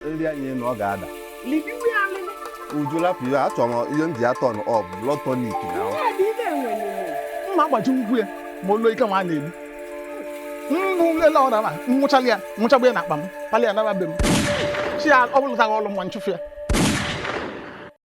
nri anyị na ọ ga-ada uju lapụ ya achọrọ m ihe m ji atọ ọ bụ blood tonic na mma agbaji ngwu ya ma olu ike nwa na-egbu mgbu nlele ọ dara nwụchala ya nwụchagbu ya n'akpa m palị ya naba be m chi ya ọ bụlụtaghị ọlụ nwa nchụfụ ya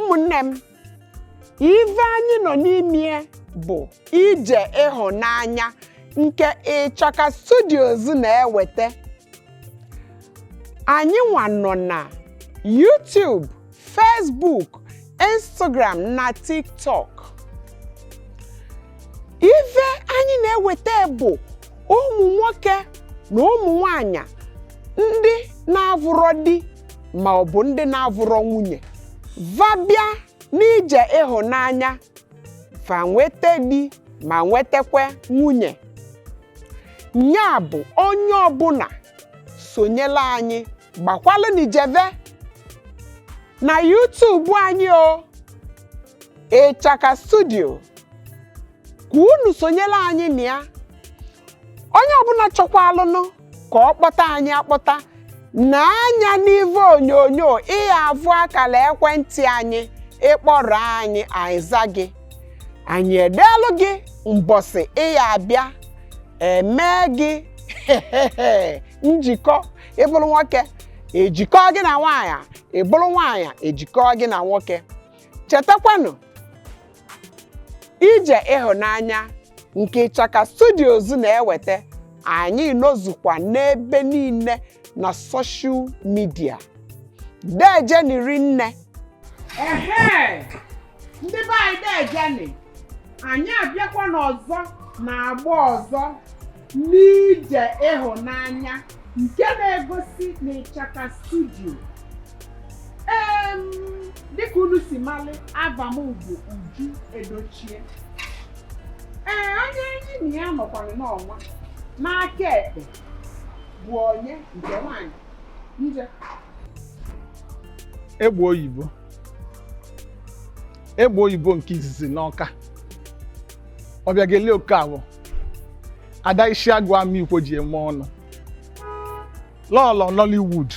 ụmụnne m ive anyị nọ n'ime bụ ije ịhụnanya nke ịchaka studios na-eweta anyị nwa nọ na YouTube Facebook Instagram na TikTok ive anyị na-eweta bụ ụmụ nwoke na ụmụ nwanyị ndị na-avụrọ di ma ọ bụ ndị na-avụrọ nwunye va bịa n'ije ịhụnanya va nweta di ma nwetakwa nwunye nya bụ onye ọbụna sonyela anyị gbakwalụnị jeve na YouTube anyị o ịchaka studio ka unu sonyela anyị na ya onye ọbụna chọkwaalụnụ ka ọ kpọta anyị akpọta nee anya n'ivu onyonyo ị ya-avụ akala ekwentị anyị ị kpọrọ anyị anyị aza gị anyị edeelu gị mbọsị ị ya-abịa e mee gị njikọ ị bụrụ nwoke e jikọ gị na nwaanyị ị bụrụ nwaanyị e jikọ gị na nwoke chetakwanụ ije ịhụnanya nke Ịchaka Studios na-eweta anyị nọzukwa n'ebe niile na social media deejeni rinne ehe ndị be anyị deejeni anyị abịakwanụ ọzọ n'agba ọzọ n'ije ịhụnanya nke na-egosi n'ịchaka studio em dịka unu si malị ava m bụ Uju Edochie ee onye anyị na ya nọkwara n'ọnwa n'aka ekpe bụ onye nke nwanyị nje egbe oyibo egbe oyibo nke izizi n'Ọka Obiageli Okafọ ada Isiagụ Amikwo ji eme ọnụ lọlọ Nollywood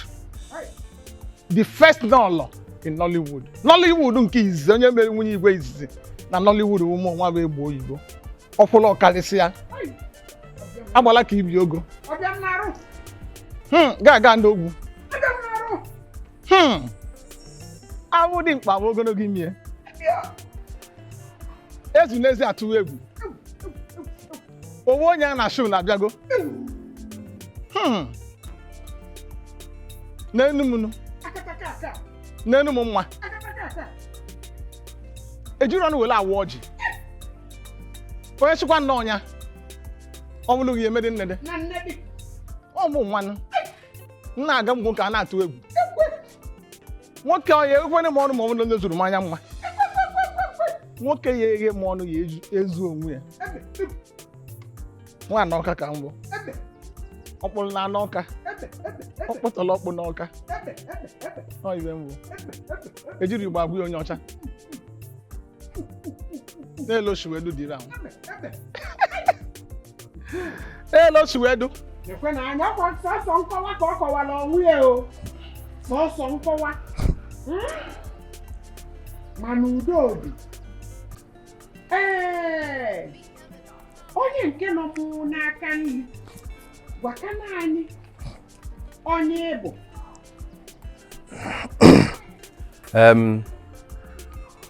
the first lọlọ in Nollywood Nollywood nke izizi onye mere nwunye igwe izizi na Nollywood mụ nwa bụ egbe oyibo ọkwụlụ ọ karịsịa agbala ka ibe ogo gaga n'ogwu Hmm. awụ dimkpa bụ ogologo imi ya ezu n'ezi atụwa egwu owe onye a na-achụ na-abịago Hmm. n'enu m nụ n'enu m nwa ejiri ọnụ were awụ ọjị onye chịkwa nna ọnya ọ bụlụ ghị emedị nnede ọ mụ nwanụ m na-aga m nwoke a na-atụ egwu nwoke ọ ya ekwene m ọnụ ma ọ bụrụ na onye zuru m anya mma nwoke ya eghe m ọnụ ya ezu- ezu onwe ya nwa n'Ọka ka m bụ ọkpụrụ na anụ Ọka ọkpụtọrọọkpụ n'Ọka ọ ibe mbụ ejiri igbo agwa onye ọcha n'elu oshiwedu dịrị ahụ n'elu oshiwedu ekwe na anya ọkwa sọsọ nkọwa ka ọ kọwara onwe ya o sọsọ nkọwa mana udo dị ee onye nke nọ m n'aka nri gwakana anyị onye ị bụ um,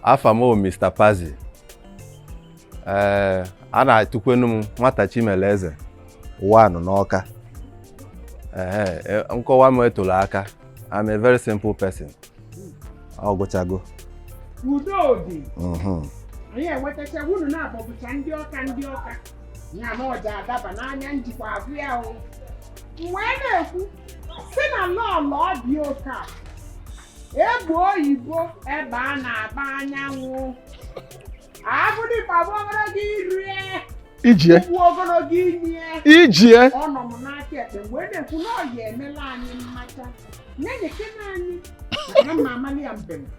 afa m Mr. Pazzi ee eh, a na-etukwenu m nwata Chimeleeze one n'Ọka ee eh, nkọwa m etoro aka I'm a very simple person ọ gụchago udo dị mhm. anyị enwetacha unu naabọ bụcha ndị Ọka ndị Ọka na m ọja adaba n'anya njikwa abụ ya o wee na-ekwu sị na lọlọ dị Ọka egbe oyibo egbe a na-agba anyanwụ abụ dimkpa bụ ogologo irie ijie ugwu ogologo imie ijie ọ nọ m n'aka ekpe wee na-ekwu na ọ ya emela anyị mmacha na-enyekena anyị na ma amalị ya mbem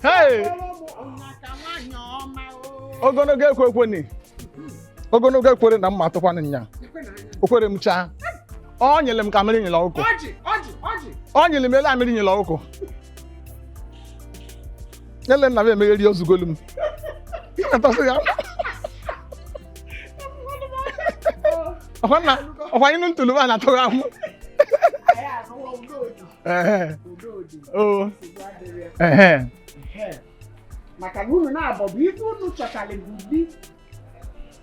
Hey! ogologo ekwe ekwene ogologo ekwere na mma atụkwana nya okwere m chaa ọ nyere m ka mmiri nyere ọkụkọ ọ nyere m ele a mmiri nyere ọkụkọ ele nna m emegheri ozugolu m Ị na-atasị ya ọkwa nna ọkwa anyị nụ ntụlụ a na-atụghị ahụ maka na unu naabọ bụ ife unu chọtara bụ di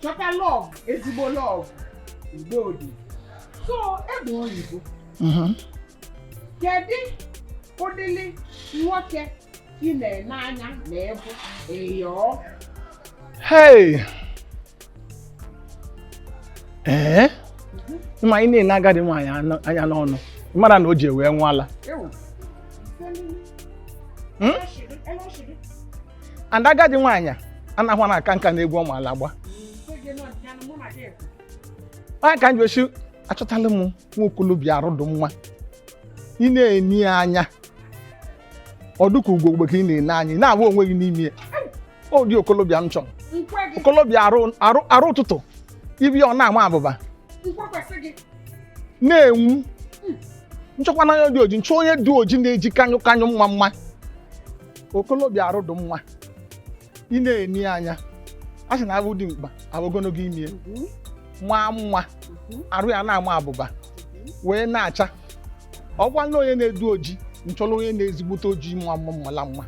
chọta love ezigbo love udo dị so egbe oyibo mhm. kedu ụdịrị nwoke ị na-ene anya na ịbụ ịyọọ ee ma ị na-ene agadi nwaanyị anya n'ọnụ mara na o ji wee ṅụọ ala hmm? and agadi nwaanyị anaghị aka nka n'egwu ọ maala agba onye ka m ji ochi achọtala m nwa okolobịa arụ dị mma ị na-ene ya anya ọ dịka ugogbe ka ị na-ene anya ị na-ahụ onwe gị n'ime ya ụdị okolobịa m chọrọ okolobịa arụ ụtụtụ ibi ọ na-ama abụba na-enwu hmm. m chọkwa onye dị oji m chọọ onye dị oji na-eji kanyụ kanyụ mma mma okolobịa arụ dị mma ị na-ene ya anya a sị na abụ dimkpa abụ ogologo imi hmm. maa mma hmm. arụ ya na-ama abụba wee na-acha ọkwa na onye na-edu oji m chọrọ onye na-ezigbote oji mma mma mala mma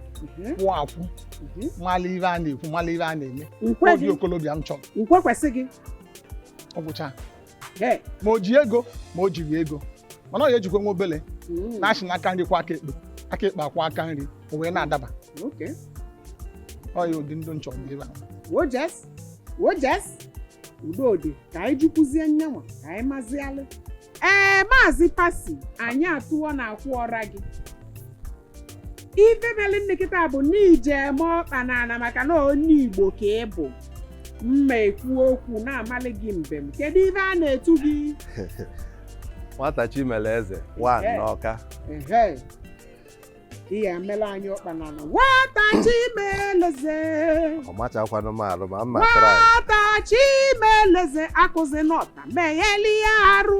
kwụ akwụ mhm. mala ife a na-ekwu mala ife a na-eme ụdị okolobịa m chọrọ nkwe kwesị gị ọ gwụcha ma o ji ego ma o jirọ ego mana ọ ya ejikwa nwa obele mm. na a sị na aka nri kwọọ aka ekpe aka ekpe akwọọ aka nri o wee na-adaba ọ ya ụdị ndụ m chọrọ ebe a udo dị ka anyị jekwuzie nyanwa ka anyị mazialụ ee maazị pasi anyị atụọ na akwụ ọra gị ife mere nne kịta bụ na ị je eme ọkpa n'ana maka na onye igbo ka ị bụ m ma ekwu okwu na-amalị gị mbem kedu ife a na-etu gị nwata chimeleze one Ehe. n'ọka Ehe. ị ya emere anyị ọkpa n'ana nwata chimeleze ọ machakwanụ m arụ ma m ma try nwata chimeleze kwụzie n'ọtọ meghalịa arụ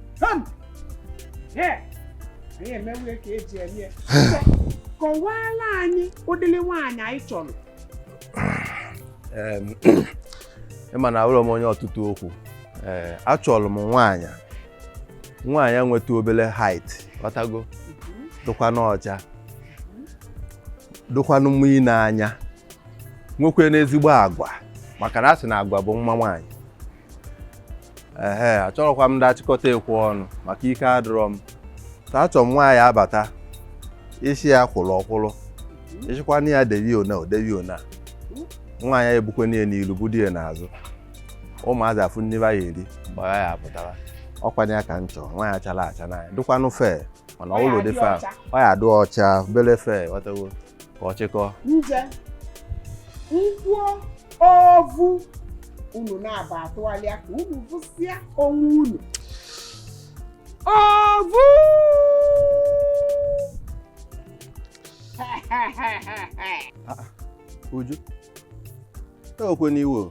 kọwaala anyị ụdịrị nwaanyị ị chọrọ ị ma na awụrọ m onye ọtụtụ okwu ee achọrọ m nwaanyị nwaanyị nweta obele height ị ghọtago dụkwanụ ọcha dụkwanụ mma ine anya nwekwenụ ezigbo agwa maka na a sị na agwa bụ mma nwaanyị ehe achọrọkwa m ndị achịkọta ekwe ọnụ maka ike adịrọ m ta achọ m nwaanyị abata ị sị ya kwụrụ ọ kwụrụ ị sịkwanụ ya debe ọnụ o debe ọnụ nwaanyị ya ebukwenụ ihe n'ilu budu ya n'azụ ụmụazị afụ nni a ya eri mgbe ya apụtara ọ kwanụ ya ka m chọọ nwaanyị achara acha n'anya dụkwanụ fair mana ọ wụlụ dị fair ọ ya adụ ọcha obele fair ị ghọtago ka ọ chịkọọ ovu unu na-aba atụgharịa ka unu vụsịa onwe unu ovu uju ewekwe n'iwe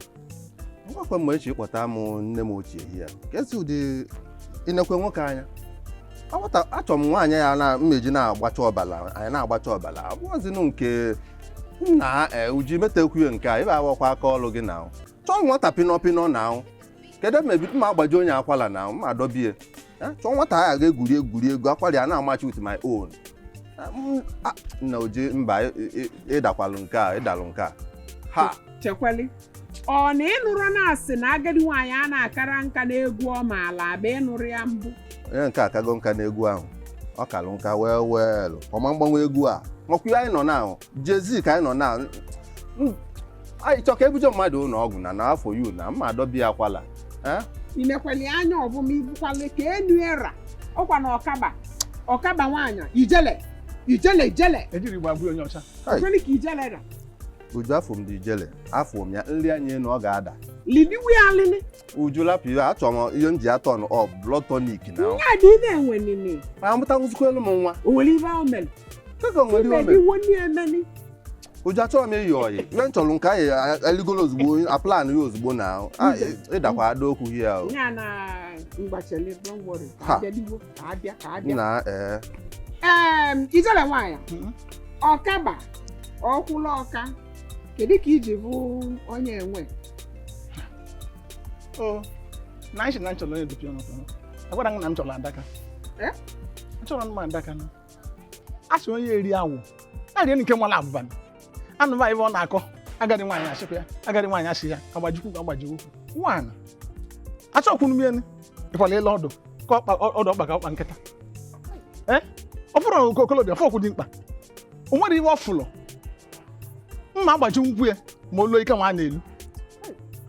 ngwakwe mgbe echi kpọta m nne m ochie ya kesi ụdị i nekwa nwoke anya achọrọ m nwaanyị ya na m ji na-agbacha ọbala anyị na-agbacha ọbala ọ bụzinụ nke nna ee uji metekwuye nke a ebe awakwa aka ọlụ gị na chọọ nwata pịnọ pịnọ na ahụ kedu ebe mebi ma agbaji onye akwala n'ahụ ma adọbie Eh, chọọ nwata a ga-egwuri egwuri egwu akwara ya na-amachi with my own Eh, m- a- nna uju mba ị- ị- ị dakwalụ nke a ị dalụ nke a ha chekwali ọ na ị nụrụ na a sị na agadi nwaanyị a na-akara nka n'egwu ọ maala agba ị nụrụ ya mbụ onye nke a akago nka n'egwu ahụ ọ kalụ nka wee weelụ ọ ma agbanwe egwu a makwa ihe anyị nọ na ahụ jezi ka anyị nọ na anyị chọ ka e buje mmadụ ụlọ ọgwụ na n'afọ yu na m ma adọbi ya akwala Eh? i nekwali anya ọbụma ibukwali ka enu era ọkwa na ọkaba ọkaba nwaanyị ijele ijele ijele e jiri gbagbu onye ọcha Hai. kweli ka ijele ra uju afọ m dị ijele afụ m ya nri anyị enu ọ ga-ada lidiwe alịlị uju lapụ iwe achọrọ m ihe m ji atọn ọ blood tonic na ihe a dị ibe enwe nini ma amụtanwụzikwalụ m nwa o nwere ibe ahụ mere kaka o nwere ihe o mere imediwo ndị emeni uju achọrọ m iyi oyi ihe m chọrọ nke anyị eligolo ozugbo a plan ya ozugbo na ahụ. Ah, ị dakwa ada okwu ihe ahụ ya na mgbachele don't worry Ha. Jeliwo. ka abịa ka abịa na ee ee ijele nwaanyị hmm? ọkaba ọkwụla ọka kedu ka i ji bụ onye enwe o na asị na m chọrọ onye dịpịa ọnụ agwara m na m chọrọ adaka achọrọ m adaka na a sị onye eri awọ na-eri nke nwala abụba anụ nwaanyị ọ na-akọ agadi nwaanyị a sịkwa ya agadi nwaanyị a sị ya agbajikwu agbajikwu nwaanyị achọkwunu m elu ịkwala ịla ọdụ ka ọdụ ọkpa ka ọkpa nkịta ee eh? ọ bụrụ na okolobịa fọkwụ dị mkpa o nwere ihe ọ fụlụ m ma agbaji ukwu ya ma olu ike nwa na-elu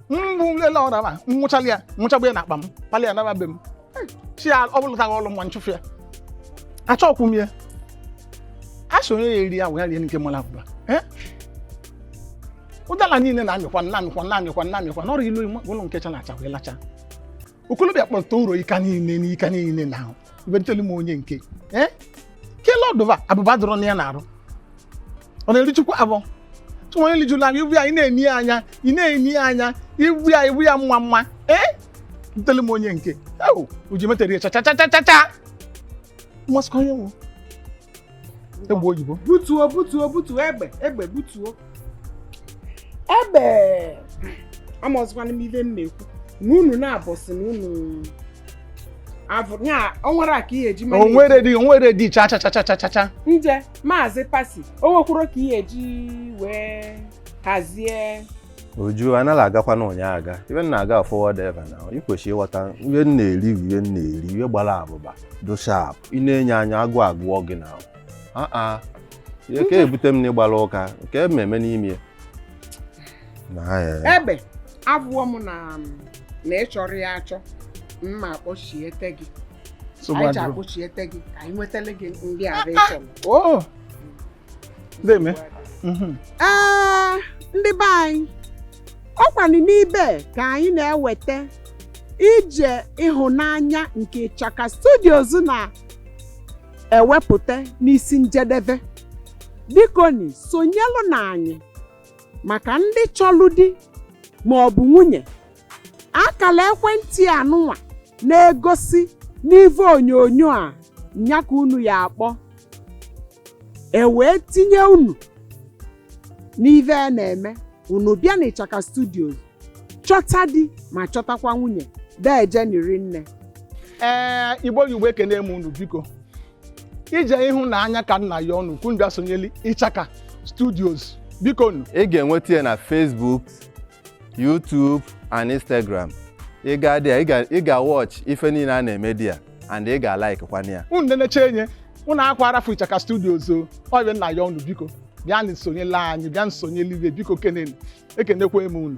mgbu lele ọra ma nwụchala ya nwụchagbu ya na akpa m palị ya naba be m chi ya ọ bụlụtaghị ọlụ nwa m chụfụ ya achọkwụ m ya a sị onye ya-eri awọ ya rie nke mara abụba Eh? ụdala niile na-amịkwa na-amịkwa na-amịkwa na-amịkwa n'ọrụ ilu ime ụlọ nke chara acha wee lacha okolobịa kpọta ụrọ ika niile na ika niile na ahụ ebentelu m onye nke ee kele ọdụva abụba dụrụ na ya na-arụ ọ na-erichukwa abụọ chụwa onye lijuru anya ibu ya ị na-eni ya anya ị na-eni ya anya ibu ya ibu ya mma mma ee ntele m onye nke ewu uju metere ya chachachachacha mmasịkwa onye nwụ egbe oyibo butuo butuo butuo egbe egbe butuo egbe amazikwana m ibe m na-ekwu na unu na-abọsị na unu avụ ya o nwere a ka ihe eji o mara nwere dị o nwere dị chachachachachacha nje maazị pasi o nwekwuru ka ihe e ji wee hazie uju anaghị agakwa na ụnyaahụ aga ibe m na-aga forward ever na ị kwesịrị ịghọta ihe m na-eri bụ ihe m na-eri ihe gbara abụba do sharp ị na-enye anya agụụ agụọ gị na aa ihe ka ebute m na ịgbara ụka nke m eme n'ime ya. na ya egbe abụọ m na na ịchọrọ ya achọ mma kpọchiete gị anyị ji akpọchiete gị ka anyị nwetara gị ndị ahụ ịchọrọ Deeme. Mhm. Ee, ndị be anyị ọ kwanụ n'ibe ka anyị na-eweta ije ịhụnanya nke Ịchaka Studios na-ewepụta n'isi njedebe bikoni sonyelụnụ anyị maka ndị chọlụ di ma ọ bụ nwunye akala ekwentị anụnwa na-egosi n'ive onyonyo a nya ka unu ya-akpọ e wee tinye unu n'ive a na-eme unu bịa na ịchaka studios chọta di ma chọtakwa nwunye deje ni rinne ee igbo igbo ekene m unu biko ije ịhụnanya ka m na-ayọ unu ka unu bịa sonyeli ịchaka studios biko nu ị ga-enweta ya na Facebook YouTube and Instagram ị gaa there ị ga-watch ife niile a na-eme there and ị ga-like kwana ya unu na-eneche enye unu akwa arafu Ichaka Studios o ọ bụ ya m na-ayọ unu biko bịanụ sonyela anyị bịanụ sonye live biko kenenu ekenekwa m unu